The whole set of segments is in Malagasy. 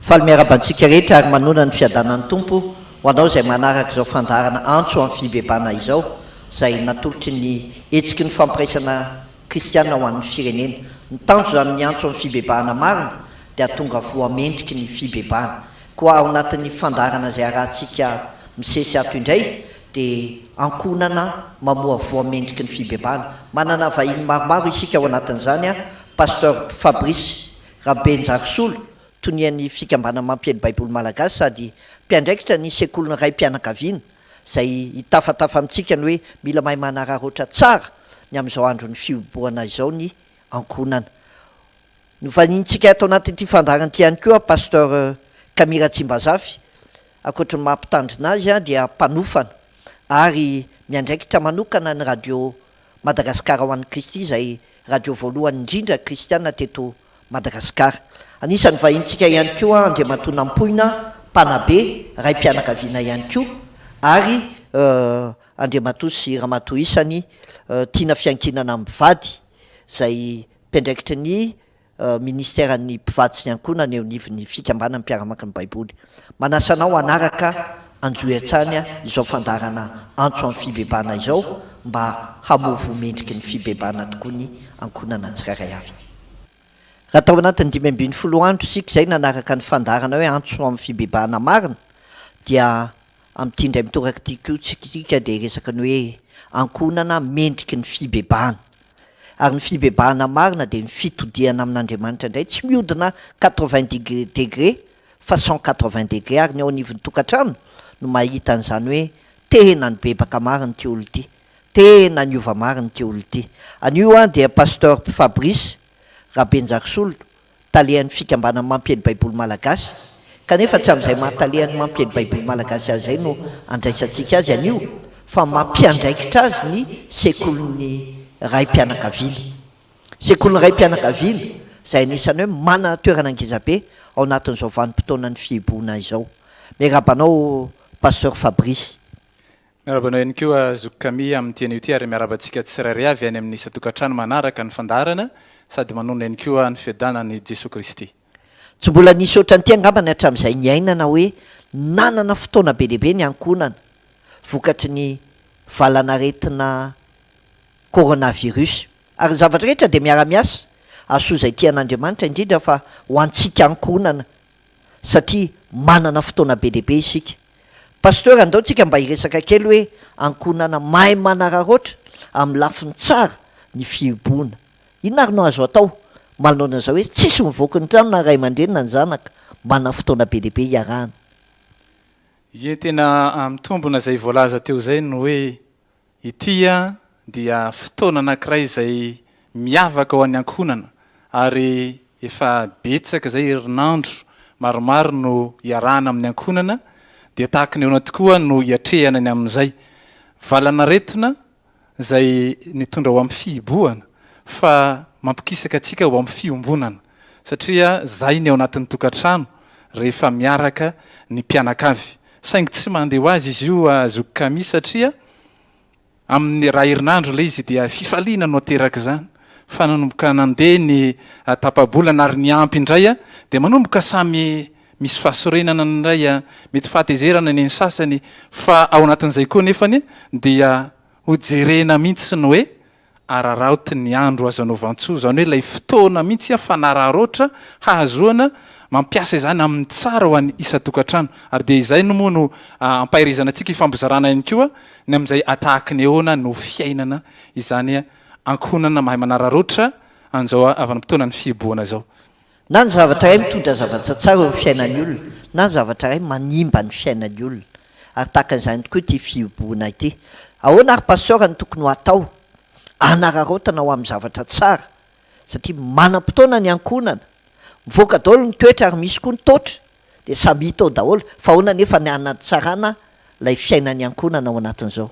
Faly miaraba antsika rehetra ary manoana ny fiadanan'ny Tompo ho anao izay manaraka izao fandaharana antso amin'ny fibebana izao izay natolotry ny Hetsiky ny Fampiraisana Kristiana ho an'ny Firenena. Ny tanjona amin'ny antso amin'ny fibebahana marina dia hatonga voa mendriky ny fibebahana. Koa ao anatin'ny fandaharana izay harahantsika misesy ato indray dia ankohonana mamoa voa mendriky ny fibebahana. Manana vahiny maromaro isika ao anatin'izany, Pasteur Fabrice. Rabenjarisolo, tonian'ny Fikambanana Mampiely Baiboly Malagasy sady mpiandraikitra ny Sekolin'ny Raim-pianakaviana, izay hitafatafa amintsika ny hoe mila mahay manararaotra tsara ny amin'izao andron'ny fihibohana izao ny ankohonana. Novahiniantsika ato anatin'ity fandaharana ity ihany koa Pasteur Camille Ratsimbazafy, ankoatry ny maha mpitandrina azy dia mpanofana ary miandraikitra manokana ny Radio. Madagasikara ho an'i Kristy izay radio voalohany indrindra kristiana teto Madagasikara. Anisan'ny vahintsika ihany koa Andriamatoa Nampoina Mpanabe, raim-pianakaviana ihany koa, ary Andriamatoa sy Ramatoa isany tiana fiankinana mivady izay mpiandraikitry ny. Minisiteran'ny Mpivady sy ny Ankohonana eo anivon'ny Fikambanan'ny Mpiara-maka ny Baiboly. Manasa anao hanaraka an-johy hatrany izao fandaharana Antso amin'ny Fibebahana izao mba hamovoa mendriky ny fibebahana tokoa ny ankohonana tsirairay avy. Raha tao anatin'ny dimy ambin'ny folo andro isika izay nanaraka ny fandaharana hoe Antso amin'ny Fibebahana Marina dia amin'ity indray mitoraka ity koa isika dia hiresaka ny hoe ankohonana mendriky ny fibebahana. Ary ny fibebahana marina dia ny fitodihana amin'Andriamanitra indray, tsy mihodina quatre-vingt degres degre fa cent quatre-vingt degre, ary ny ao anivon'ny tokantrano no mahita an'izany hoe tena nibebaka marina ity olona ity, tena niova marina ity olona ity. Anio an dia Pasteur Fabrice Rabenjarisolon talehan'ny Fikambanan'ny Mampiely Baiboly Malagasy, kanefa tsy amin'izay maha-talehan'ny Mampiely Baiboly Malagasy azy izay no andraisantsika azy anio, fa mampiandraikitra azy ny Sekolin'ny Raim-pianakaviana. Sekolin'ny Raim-pianakaviana, izay anisan'ny hoe manana toerana ngezabe ao anatin'izao vanim-potoanan'ny fihibohana izao. Miarahaba anao Pasteur Fabrice. Miarahaba anao ihany koa zoky Camille amin'ity anio ity ary miarahaba antsika tsirairay avy any amin'ny isan-tokantrano manaraka ny fandaharana sady manonona ihany koa ny fiadanan'i Jesoa Kristy. Tsy mbola nisy ohatran'ity angamba ny hatramin'izay niainana hoe nanana fotoana be dia be ny ankohonana vokatry ny valan'aretina coronavirus. Ary ny zavatra rehetra dia miara-miasa hahasoa izay tian'Andriamanitra, indrindra fa ho antsika ankohonana satria manana fotoana be dia be isika. Pasteur andao tsika mba hiresaka kely hoe ankohonana mahay manararaotra amin'ny lafiny tsara ny fihibohona. Inona ary no azo atao manoloana izao hoe tsisy mivoaky ny trano na ray aman-dreny na ny zanaka manana fotoana be dia be hiarahana. Ie tena mitombona izay voalaza teo izay ny hoe Ity dia fotoana anankiray izay miavaka ho an'ny ankohonana ary efa betsaka izay herinandro maromaro no iarahana amin'ny ankohonana dia tahaka ny ahoana tokoa no hiatrehana ny amin'izay valan'aretina izay nitondra ho amin'ny fihibohana fa mampikisaka antsika ho amin'ny fiombonana satria zay ny ao anatin'ny tokantrano rehefa miaraka ny mpianakavy. Saingy tsy mandeha ho azy izy io Zoky Camille satria amin'ny iray herinandro ilay izy dia fifaliana no aterak'izany fa nanomboka nandeha ny tapa-bolana ary niampy indray dia manomboka samy misy fahasorenana ny iray mety fahatezerana ny an'ny sasany fa ao anatin'izay koa nefany dia hojerena mihitsy ny hoe Araraoty ny andro azo anaovan-tsoa, izany hoe ilay fotoana mihitsy aho fanararaotra hahazoana mampiasa izany amin'ny tsara ho an'ny isan-tokantrano. Ary dia izay no moa no ampahirizana antsika hifampizarana ihany koa ny amin'izay atahaky ny ahoana no fiainana izany ankohonana mahay manararaotra an'izao avana-potoanan'ny fihibohana izao. Na ny zavatra iray mitondra zavatra tsara eo amin'ny fiainan'ny olona, na ny zavatra iray manimba ny fiainan'ny olona. Ary tahaka izany tokoa ity fihibohana ity. Ahoana ary Pasteur no tokony ho atao hanararaotana ho amin'ny zavatra tsara? Satria manam-potoana ny ankohonana. Mivoaka daholo ny toetra ary misy koa ny toatra. Dia samy hita ao daholo. Fa ahoana anefa ny hanatsarana ilay fiainan'ny ankohonana ao anatin'izao?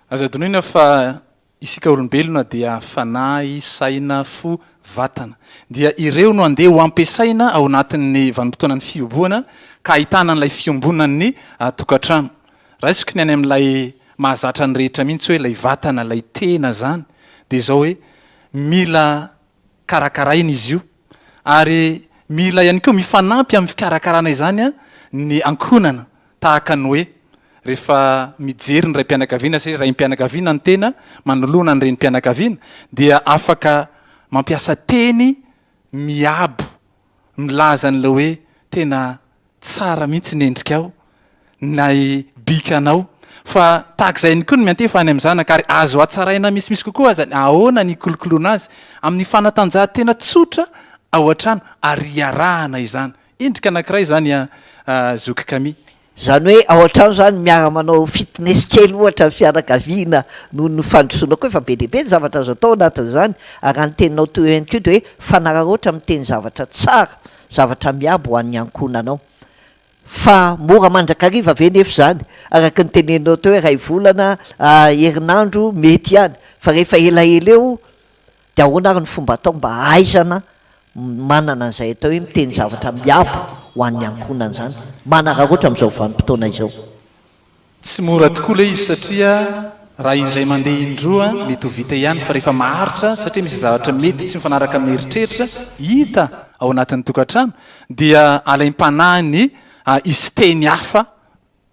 Aza adinoina fa Isika olombelona dia fanahy, saina, fo, vatana. Dia ireo no andeha ho ampiasaina ao anatin'ny vanim-potoanan'ny fihobohana ka ahitana an'ilay fiombonan'ny tokantrano. Raisiko ny any amin'ilay mahazatra ny rehetra mihitsy hoe ilay vatana, ilay tena izany dia izao hoe mila karakaraina izy io ary mila ihany koa mifanampy amin'ny fikarakarana izany ny ankohonana tahaka ny hoe rehefa mijery ny raim-pianakaviana satria raim-pianakaviana ny tena manoloana ny renim-pianakaviana dia afaka mampiasa teny miabo milaza an'ilay hoe tena Tsara mihitsy ny endrikao, nay bikanao. Fa tahaka izay ihany koa ny miantefa any amin'ny zanaka, ary azo hatsaraina misimisy kokoa aza ny ahoana ny hikolokoloana azy, amin'ny fanatanjahantena tsotra ao an-trano, ary iarahana izany. Endrika anankiray izany an, Zoky Kami. Izany hoe ao an-trano izany miara-manao fitness kely ohatra ny fianakaviana noho ny fandrosoana koa, efa be dia be ny zavatra azo atao ao anatin'izany, ary raha ny teninao toy io ihany koa dia hoe fanararaotra miteny zavatra tsara zavatra miabo ho an'ny ankohonanao. Fa mora mandrakariva ve nefa izany? Araka ny teneninao teo hoe iray volana, herinandro, mety ihany. Fa rehefa elaela eo dia ahoana ary ny fomba atao mba hahaizana manana an'izay atao hoe miteny zavatra miabo ho an'ny ankohonana izany, manararaotra amin'izao vanim-potoana izao? Tsy mora tokoa ilay izy satria raha indray mandeha indroa mety ho vita ihany fa rehefa maharitra satria misy zavatra mety tsy mifanaraka amin'ny eritreritra hita ao anatin'ny tokantrano dia alaim-panahy ny hisy teny hafa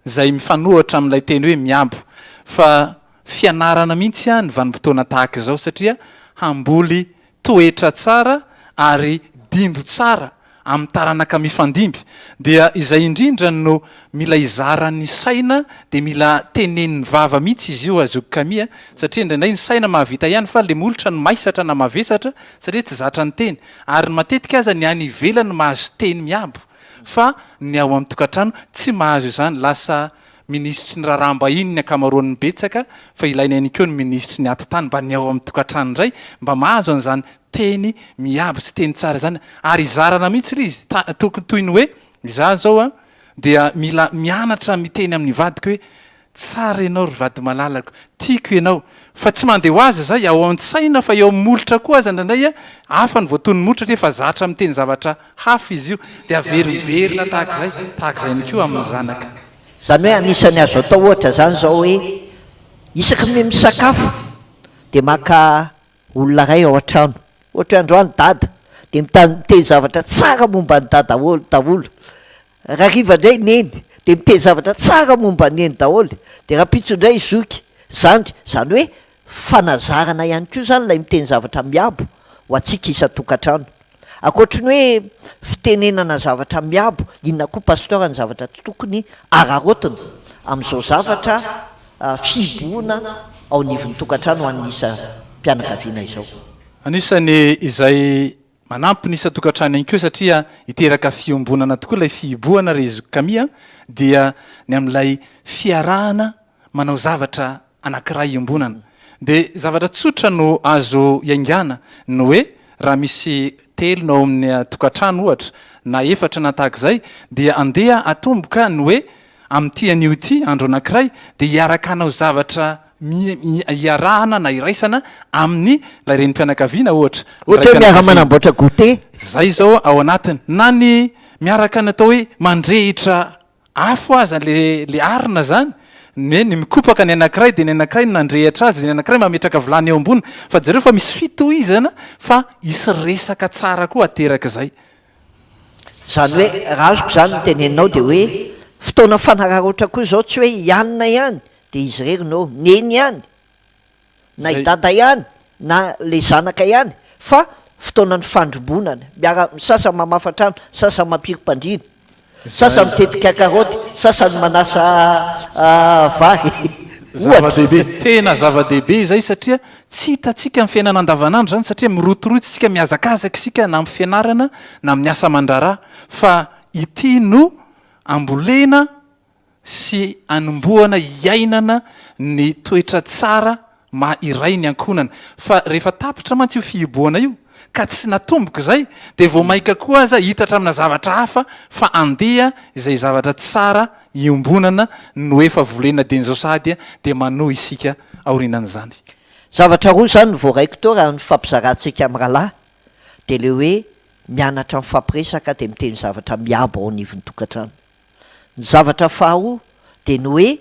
izay mifanohitra amin'ilay teny hoe miabo fa fianarana mihitsy ny vanim-potoana tahaka izao satria hamboly toetra tsara ary dindo tsara amin'ny taranaka mifandimby dia izay indrindra no mila izaran'ny saina dia mila tenenin'ny vava mihitsy izy io zoky Kami a! satria indraindray ny saina mahavita ihany fa le molotra no maisatra na mavesatra satria tsy zatra ny teny ary ny matetika aza ny any ivelany mahazo teny miabo fa ny ao amin'ny tokantrano tsy mahazo izany lasa Minisitry ny raharaham-bahiny ny ankamaroan'ny betsaka fa ilaina ihany koa ny minisitry ny atitany mba ny ao amin'ny tokantrano indray mba mahazo an'izany teny miabo sy teny tsara izany ary hizarana mihitsy ilay izy tokony toy ny hoe izaho izao an dia mila mianatra miteny amin'ny vadiko hoe tsara ianao ry vady malalako tiako ianao fa tsy mandeha ho azy izay ao an-tsaina fa eo amin'ny molotra koa aza indraindray hafa ny voatonon'ny molotra satria efa zatra miteny zavatra Hafa izy io, dia averimberina tahaka izay, tahaka izay ihany koa amin'ny zanaka. Izany hoe anisan'ny azo atao ohatra izany izao hoe, isaky ny misakafo dia maka olona iray ao an-trano, ohatra hoe androany dada, dia miteny zavatra tsara momba an'i dada daholo. Rariva ndray neny de miteny zavatra tsara momba an'i neny daholo de rahampitso ndray zoky zandry zany hoe fanazarana ihany koa zany lay miteny zavatra miabo ho antsika isan-tokantrano ankoatry ny hoe fitenenana zavatra miabo inona koa pasteur ny zavatra tsy tokony araraotina amin'izao zavatra fihibohona ao anivon'ny tokantrano ho an'ny isa-pianakaviana izao. Anisan'ny izay Manampy ny isan-tokantrano ihany koa satria hiteraka fiombonana tokoa ilay fihibohana ry zoky Kami a! dia ny amin'ilay fiarahana manao zavatra anankiray iombonana dia zavatra tsotra no azo iaingana ny hoe raha misy telo no ao amin'ny tokantrano ohatra na efatra na tahaka izay dia andeha atomboka ny hoe amin'ity anio ity andro anankiray dia hiaraka hanao zavatra iarahana na iraisana amin'ny ilay renim-pianakaviana ohatra. Ohatra hoe miara-manamboatra goûter. Izay izao ao anatiny. Na ny miaraka ny atao hoe mandrehitra afo aza ilay arina izany, ny hoe mikopaka ny anankiray dia ny anankiray no nandrehitra azy, dia ny anankiray mametraka vilany eo amboniny. Fa jereo fa misy fitohizana fa hisy resaka tsara koa aterak'izay. Izany hoe raha azoko izany ny teneninao dia hoe fotoana fanararaotra koa izao tsy hoe hianina ihany de izy irery no neny ihany na i dada ihany na le zanaka ihany fa fotoanan'ny fandrombonana miara misasa mamafa trano sasany mampirim-pandriana sasany mitetika karaoty sasany manasa vary zava-dehibe tena zava-dehibe izay satria tsy hitantsika ny fiainana andavanandro izany satria mirotorotsy isika mihazakazaka isika na amin'ny fianarana na amin'ny asa aman-draharaha fa ity no ambolena sy anombohana hiainana ny toetra tsara maha iray ny ankohonana. Fa rehefa tapitra mantsy io fihibohana io, ka tsy natomboka izay, dia vao mainka koa aza hitatra amina zavatra hafa fa andeha izay zavatra tsara iombonana no efa volena dian'izao sahady dia manohy isika aorianan'izany. Zavatra roa izany no voaraiko teo raha ny fifampizarantsika amin'ny rahalahy, dia ilay hoe mianatra mifampiresaka dia miteny zavatra miabo ao anivon'ny tokantrano. Ny zavatra faharoa dia ny hoe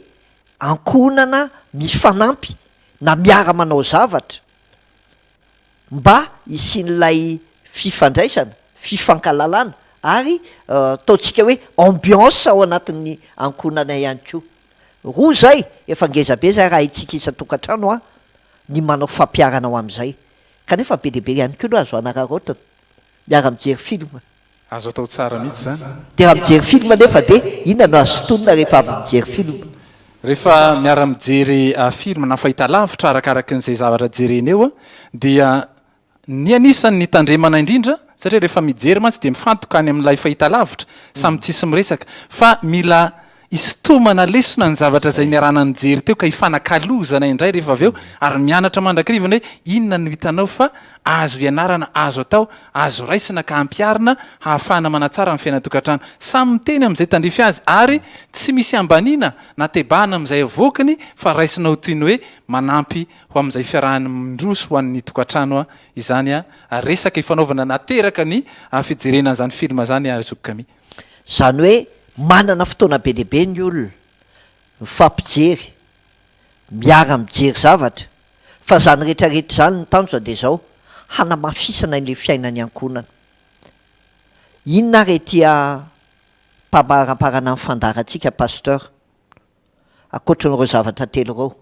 ankohonana mifanampy na miara-manao zavatra mba hisian'ilay fifandraisana, fifankalalana ary ataontsika hoe ambiance ao anatin'ny ankohonana ihany koa. Roa izay, efa ngeza be izay raha haintsika isan-tokantrano ny manao fampiharana ho amin'izay. Kanefa be dia be ihany koa no azo hanararaotina miara-mijery film. Azo atao tsara mihitsy zany. Dia raha mijery film anefa dia inona no azo sintonina rehefa avy mijery film? Rehefa miara mijery film na fahitalavitra arakaraky ny izay zavatra jerena eo dia ny anisan ny tandremana indrindra satria rehefa mijery mantsy dia mifantoka any amin ilay fahitalavitra samy tsisy miresaka fa mila Isintomana lesona ny zavatra izay niarahana nijery teo ka hifanakalozana indray rehefa avy eo ary mianatra mandrakirivony hoe inona no hitanao fa azo ianarana, azo atao, azo raisina ka ampiharina hahafahana manatsara ny fiainan-tokantrano. Samy miteny amin'izay tandrify azy ary tsy misy ambaniana na tebahana amin'izay avoakiny fa raisina ho toy ny hoe manampy ho amin'izay fiarahany mindroso ho an'ny tokantrano izany resaka ifanaovana nateraka ny fijerena an'izany film izany ry zoky Camille. Izany hoe manana fotoana be dia be ny olona, mifampijery, miara-mijery zavatra, fa izany rehetrarehetra izany ny tanjona dia izao, hanamafisana ilay fiainan'ny ankohonana. Inona ary ity ampabaramparana ny fandaharantsika Pasteur? Ankoatran'ireo zavatra telo ireo,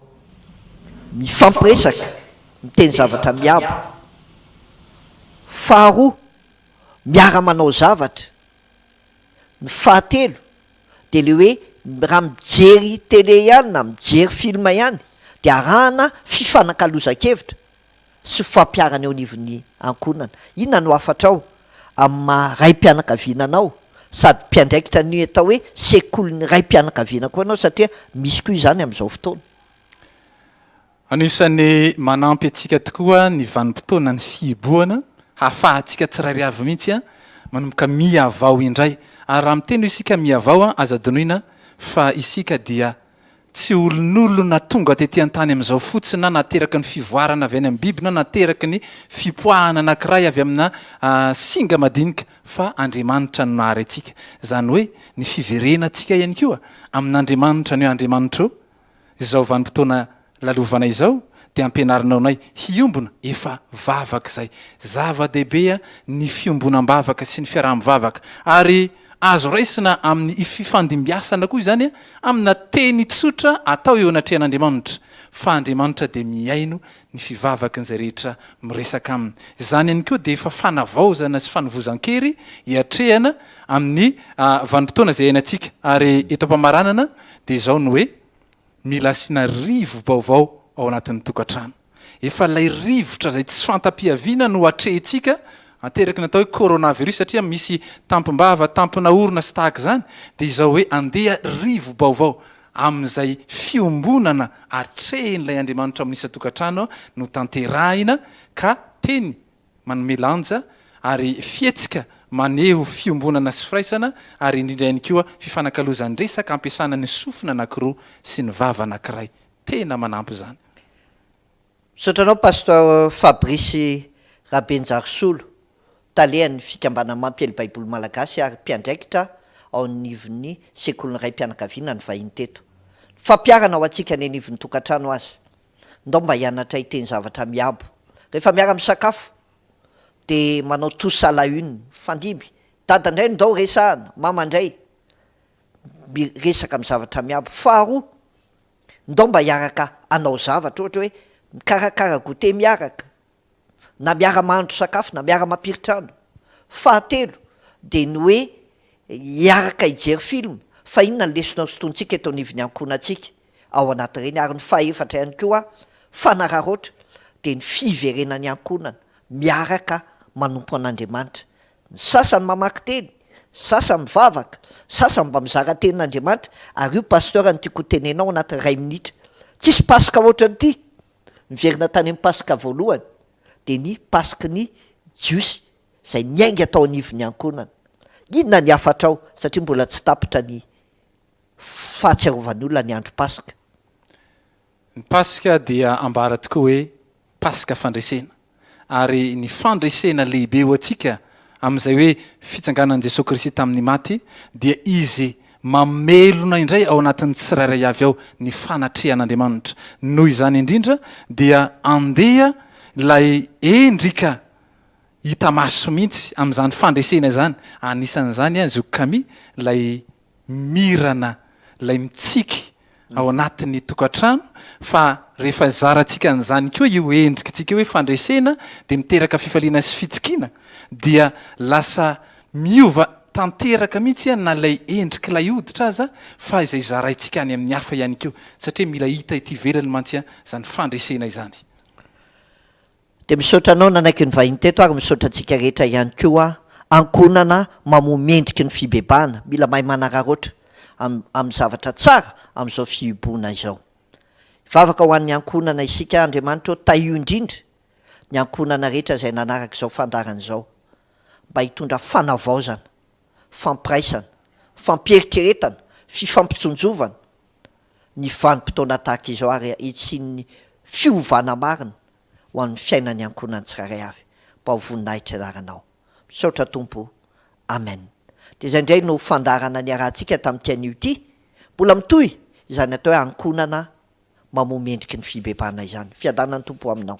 mifampiresaka, miteny zavatra miabo. Faharoa, miara-manao zavatra. Ny fahatelo dia ilay hoe raha mijery télé ihany na mijery film ihany dia arahana fifanakalozan-kevitra sy ho fampiharana eo anivon'ny ankohonana. Inona no hafatrao amin'ny maha raim-pianakaviana anao? Sady mpiandraikitra ny atao hoe sekolin'ny raim-pianakaviana koa ianao satria misy koa izany amin'izao fotoana. Anisan'ny manampy antsika tokoa ny vanim-potoanan'ny fihibohana, hahafahantsika tsirairay avy mihitsy manomboka mihavao indray. Ary raha miteny hoe isika mihavao, aza adinoina fa isika dia Tsy olonolona tonga tety an-tany amin'izao fotsiny na nahateraky ny fivoarana avy any amin'ny biby na nahateraky ny fipoahana anankiray avy amina singa madinika, fa Andriamanitra no nahary antsika. Izany hoe ny fiverenantsika ihany koa amin'Andriamanitra ny hoe Andriamanitro izao vanim-potoana Lalovana izao dia ampianarinao anay hiombona efa vavaka izay. Zava-dehibe ny fiombonam-bavaka sy ny fiaraha-mivavaka ary azo raisina amin'ny ififandimbiasana koa izany amina teny tsotra atao eo anatrehan'Andriamanitra fa Andriamanitra dia mihaino ny fivavakin'izay rehetra miresaka aminy. Izany ihany koa dia efa fanavaozana sy fanovozan-kery iatrehana amin'ny vanim-potoana izay iainantsika ary eto am-pamaranana dia izao ny hoe. Mila asiana rivo-baovao ao anatin'ny tokantrano. Efa ilay rivotra izay tsy fanta-piaviana no atrehintsika, ateraky ny atao hoe coronavirus satria misy tampim-bava, tampina orona sy tahaka izany, dia izao hoe andeha rivo-baovao amin'izay fiombonana atrehin'ilay Andriamanitra ao amin'ny isan-tokantrano no tanterahina ka teny manome lanja ary fihetsika maneho fiombonana sy firaisana ary indrindra ihany koa fifanakalozan-dresaka ampiasana ny sofina anankiroa sy ny vava anankiray. Tena manampy izany. Misaotra anao Pasteur Fabrice Rabenjarisolo, Talehan'ny Fikambanana Mampiely Baiboly Malagasy ary Mpiandraikitra ao anivon'ny Sekolin'ny Raim-pianakaviana ny vahiny teto. Ny fampiharana ho antsika any anivon'ny tokantrano aza. ndao mba hianatra hiteny zavatra miabo, rehefa miara misakafo de manao tous à la une, mifandimby, dada ndray ndao resahana, mama ndray miresaka amin'ny zavatra miabo, faharoa ndao mba hiaraka hanao zavatra ohatra hoe mikarakara goûter miaraka, na miara-mahandro sakafo na miara-mampiry trano. Fahatelo dia ny hoe hiaraka hijery film fa inona ny lesona hosintonintsika eto anivon'ny ankohonantsika ao anatin'ireny ary ny fahefatra ihany koa fanararaotra dia ny fiverenan'ny ankohonana miaraka manompo an'Andriamanitra. Ny sasany mamaky teny, ny sasany mivavaka, ny sasany mba mizara tenin'Andriamanitra ary io Pasteur no tiako hotenenao anatin'ny iray minitra. Tsisy Paska ohatran'ity. niverina tany amin'ny Paska voalohany dia ny Paska ny Jiosy izay niainga tao anivon'ny ankohonana. Inona ny hafatrao satria mbola tsy tapitra ny fahatsiarovan'ny olona ny andro Paska? Ny Paska dia ambara tokoa hoe Paska fandresena. ary ny fandresena lehibe ho antsika amin'izay hoe fitsanganan'i Jesoa Kristy tamin'ny maty dia Izy mamelona indray ao anatin'ny tsirairay avy ao ny fanatrehan'Andriamanitra. Noho izany indrindra dia andeha ilay endrika hita maso mihitsy amin'izany fandresena izany, anisan'izany an, Zoky Camille, ilay mirana ilay mitsiky ao anatin'ny tokantrano fa rehefa zarantsika an'izany koa io endrikintsika io hoe fandresena dia miteraka fifaliana sy fitsikiana dia lasa miova tanteraka mihitsy na ilay endrik'ilay hoditra aza fa izay zaraintsika any amin'ny hafa ihany koa satria mila hita ety ivelany mantsy izany fandresena izany. Dia misaotra anao nanaiky ny vahiny teto ary misaotra antsika rehetra ihany koa aho. Ankohonana mamoha mendrika ny fibebahana, mila mahay manararaotra amin'ny zavatra tsara amin'izao fihibohana izao. Hivavaka ho an'ny ankohonana isika, Andriamanitra ô tahio indrindra ny ankohonana rehetra izay nanaraka izao fandaharana izao mba hitondra fanavaozana. fampiraisana, fampieritreretana, fifampitsinjovana ny vanim-potoana tahaka izao ary hitsinin'ny fiovana marina ho an'ny fiainan'ny ankohonany tsirairay avy. Mba ho voninahitry anaranao. Misaotra Tompo. Amen. Dia izay indray no fandaharana niarahantsika tamin'ity anio ity. Mbola mitohy izany atao hoe ankohonana mamoha mendriky ny fibebahana izany. Fiadanan'ny Tompo ho aminao.